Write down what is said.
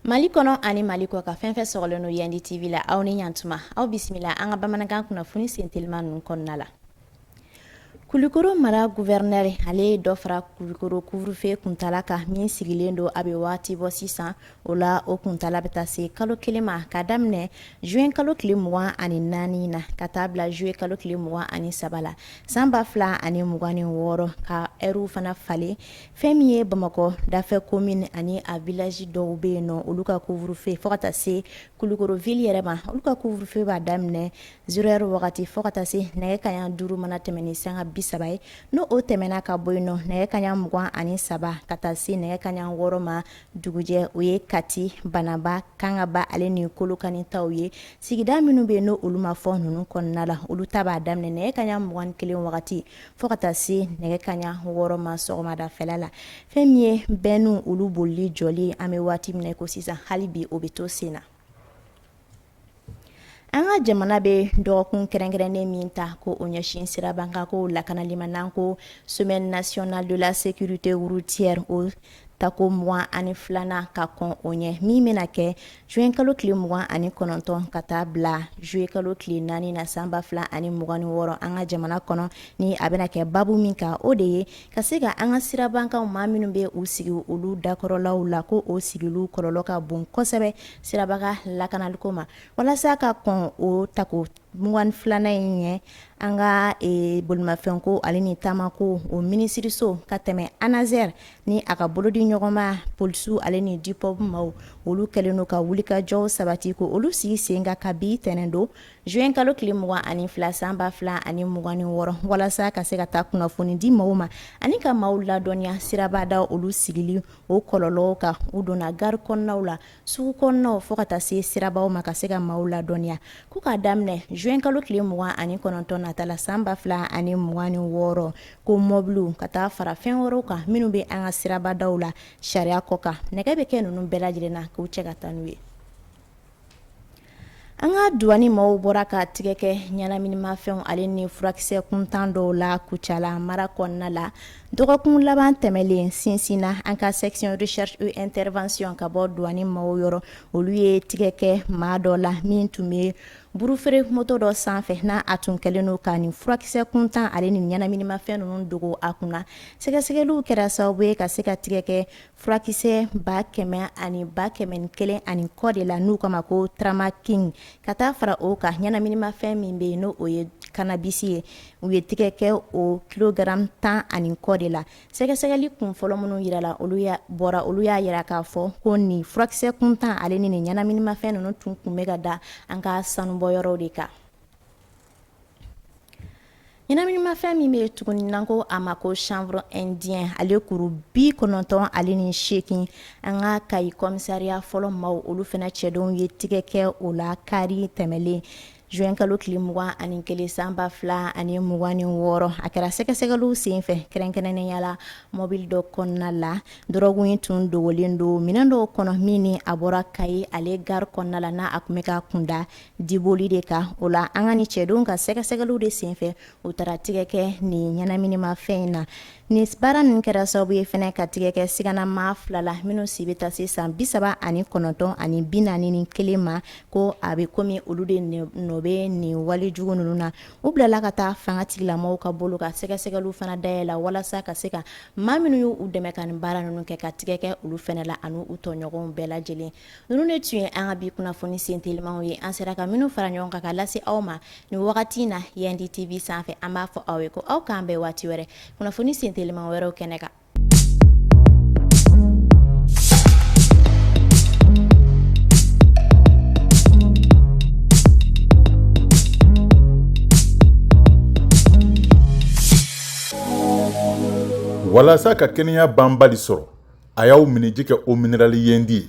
mali kɔnɔ ani mali kɔkan fɛn fɛn sɔgɔlen don yandi tv la aw ni yan tuma aw bisimila an ka bamanankan kunnafoni sentelima ninnu kɔnɔna la Kulukoro mara guvɛrinɛri ale ye dɔ fara Kulukoro kuvurufe kuntala kan min sigilen don a bɛ waati bɔ sisan O la o kuntaala bɛ taa se kalo 1 ma k'a daminɛ juin kalo tile 24 na ka taa bila juillet kalo tile 23 la san 2026 ka heures fana falen fɛn min ye Bamakɔ dafɛ komine ani a village dɔw bɛ yen nɔ olu ka couvre feu fo ka taa se Kulukoro ville yɛrɛ ma olu ka couvre feu b'a daminɛ zero heure wagati fo ka taa se nɛgɛ kanɲɛ 5 mana tɛmɛn ni sanga 30 ye n'o o tɛmɛna ka bɔ yen nɔ nɛgɛ kanɲɛ 23 ka taa se nɛgɛ kanɲɛ 6 ma dugujɛ o ye kati banaba kangaba ale ni kolokani taw ye sigida minnu bɛ yen n' olu ma fɔ ninnu kɔnɔna la olu ta b'a daminɛ nɛgɛ kanɲɛ mugan ni kelen wagati fo ka taa se nɛgɛ kanɲɛ wɔɔrɔ ma sɔgɔmadafɛla la fɛn min ye bɛnniw olu bolili jɔli an bɛ waati min na ko sisan hali bi o bɛ to sen na An ka jamana bɛ dɔgɔkun kɛrɛnkɛrɛnnen min ta ko o ɲɛsin sirabakan ko lakanali ma n'an ko semaine nationale de la sécurité routière o tako 22nan ka kɔn o ɲɛ min bɛna kɛ juin kalo tile 29 ka taa bila juillet kalo tile 4 na san 2026 an ka jamana kɔnɔ ni a bɛna kɛ babu min kan o de ye Ka se ka an ka sirabakan maa minnu bɛ u sigi olu dakɔrɔlaw la ko o sigili kɔlɔlɔ ka bon kosɛbɛ sirabakan lakanaliko ma walasa ka kɔn o tako 22nan in ɲɛ an ka bolimafɛn ko ale ni taama ko o minisiririso ka tɛmɛ ANASER ni a ka bolodi ɲɔgɔnma polisiw ale ni dipɔpu maaw olu kɛlen don ka wulikajɔw sabati ko olu sigi sen kan kabi tɛnɛn don juin kalo tile mugan ani fila san ba fila ani mugan ni wɔɔrɔ walasa ka se ka taa kunnafoni di maaw ma ani ka maaw ladɔnniya sirabada olu sigili o kɔlɔlɔw kan u donna gari kɔnɔnaw la sugu kɔnɔw fo ka taa se sirabaw ma ka se ka maaw ladɔnniya ko k'a daminɛ juin kalo tile mugan ani kɔnɔntɔn nata la san ba fila ani mugan ni wɔɔrɔ ko mɔbili ka taa fara fɛn wɛrɛw kan minnu bɛ an ka sirabadaw la sariya kɔkan nɛgɛ bɛ kɛ ninnu bɛɛ lajɛlen na k'u cɛ ka taa n'u ye An ka duwani maaw bɔra ka tigɛ kɛ ɲɛnaminimafɛnw ale ni furakisɛ kuntan dɔw la Kucala mara kɔnɔna la dɔgɔkun laban tɛmɛnlen sinsin na an ka section recherche et intervention ka bɔ duwani maaw yɔrɔ olu ye tigɛ kɛ maa dɔ la min tun bɛ burufeere moto dɔ sanfɛ n a tun kɛlen don ka nin furakisɛ kuntan ale ni ɲɛnaminimafɛn ninnu dogo a kunna sɛgɛsɛgɛliw kɛra sababu ye ka se ka tigɛ kɛ furakisɛ ba kɛmɛ ani ba kɛmɛ ni kelen ani kɔ de la n'u k'a ma ko tramaking ka taa fara o kan ɲɛnaminimafɛn min bɛ yen n' o ye kannabisi ye u ye tɛgɛ kɛ o kilogramu tan ani kɔ de la sɛgɛsɛgɛli kun fɔlɔ minnu jira la olu bɔra olu y'a jira k'a fɔ ko nin furakisɛ kuntan ale ni nin ɲɛnaminimafɛn ninnu tun kun bɛ ka da an ka sanubɔyɔrɔw de kan Ɲɛnaminimafɛn min bɛ yen tuguni n'an ko a ma ko chanvre indien ale kuru 90 ale ni seegin an ka Kayi commissariat fɔlɔ maaw olu fana cɛdenw ye tɛgɛ kɛ o la kari tɛmɛlen juin kalo tile 21 san 2026 a kɛra sɛgɛsɛgɛliw senfɛ kɛrɛnkɛrɛnnenya la mɔbili dɔ kɔnɔna la dɔrɔgu in tun dogolen don minɛn dɔw kɔnɔ min ni a bɔra Kayi ale gare kɔnɔna la n'a tun bɛ ka kun da Diboli de kan o la an ka nin cɛdenw ka sɛgɛsɛgɛli de senfɛ u taara tɛgɛ kɛ nin ɲɛnaminimafɛn in na nin baara min kɛra sababu ye fana ka tɛgɛ kɛ siganamaa fila la minnu si bɛ taa se san bi saba ani kɔnɔntɔn ani bi naani ni kelen ma ko a bɛ komi olu de nɔ bɛ nin wali jugu ninnu na u bilala ka taa fangatigilamaw ka bolo kan sɛgɛsɛgɛli fana dayɛlɛla walasa ka se ka maa minnu y' u dɛmɛ ka nin baara ninnu kɛ ka tɛgɛ kɛ olu fana la ani u tɔɲɔgɔnw bɛɛ lajɛlen Ninnu de tun ye an ka bi kunnafoni sen telimanw ye an sera ka minnu fara ɲɔgɔn kan ka lase aw ma nin wagati in na Yendi TV sanfɛ an b'a fɔ aw ye ko aw k'an bɛn waati wɛrɛ kunnafoni sen teliman wɛrɛw kɛnɛ kan walasa ka kɛnɛya banbali sɔrɔ a y'aw minniji kɛ eau minérale Yendi ye